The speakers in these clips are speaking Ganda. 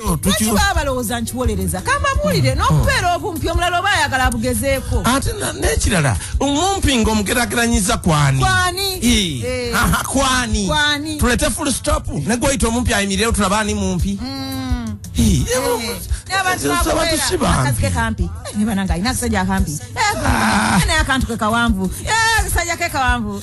lwaki baba balowooza nti wolereza kambabuulire hmm. n'okubeera obumpi omulala oba ayagala abugezeeko ate n'ekirala omumpi nga omugerageranyiza kwani kwani eh. tulete full stop ne gweyita omumpi ayimirewo tulaba ani mumpi hmm. eh, eh, ah. akantu kekawanvu kasajja kekawanvu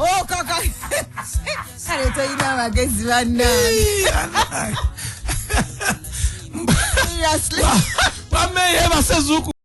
Oh, kaka kale toyina amagezi bannange bameye basezuku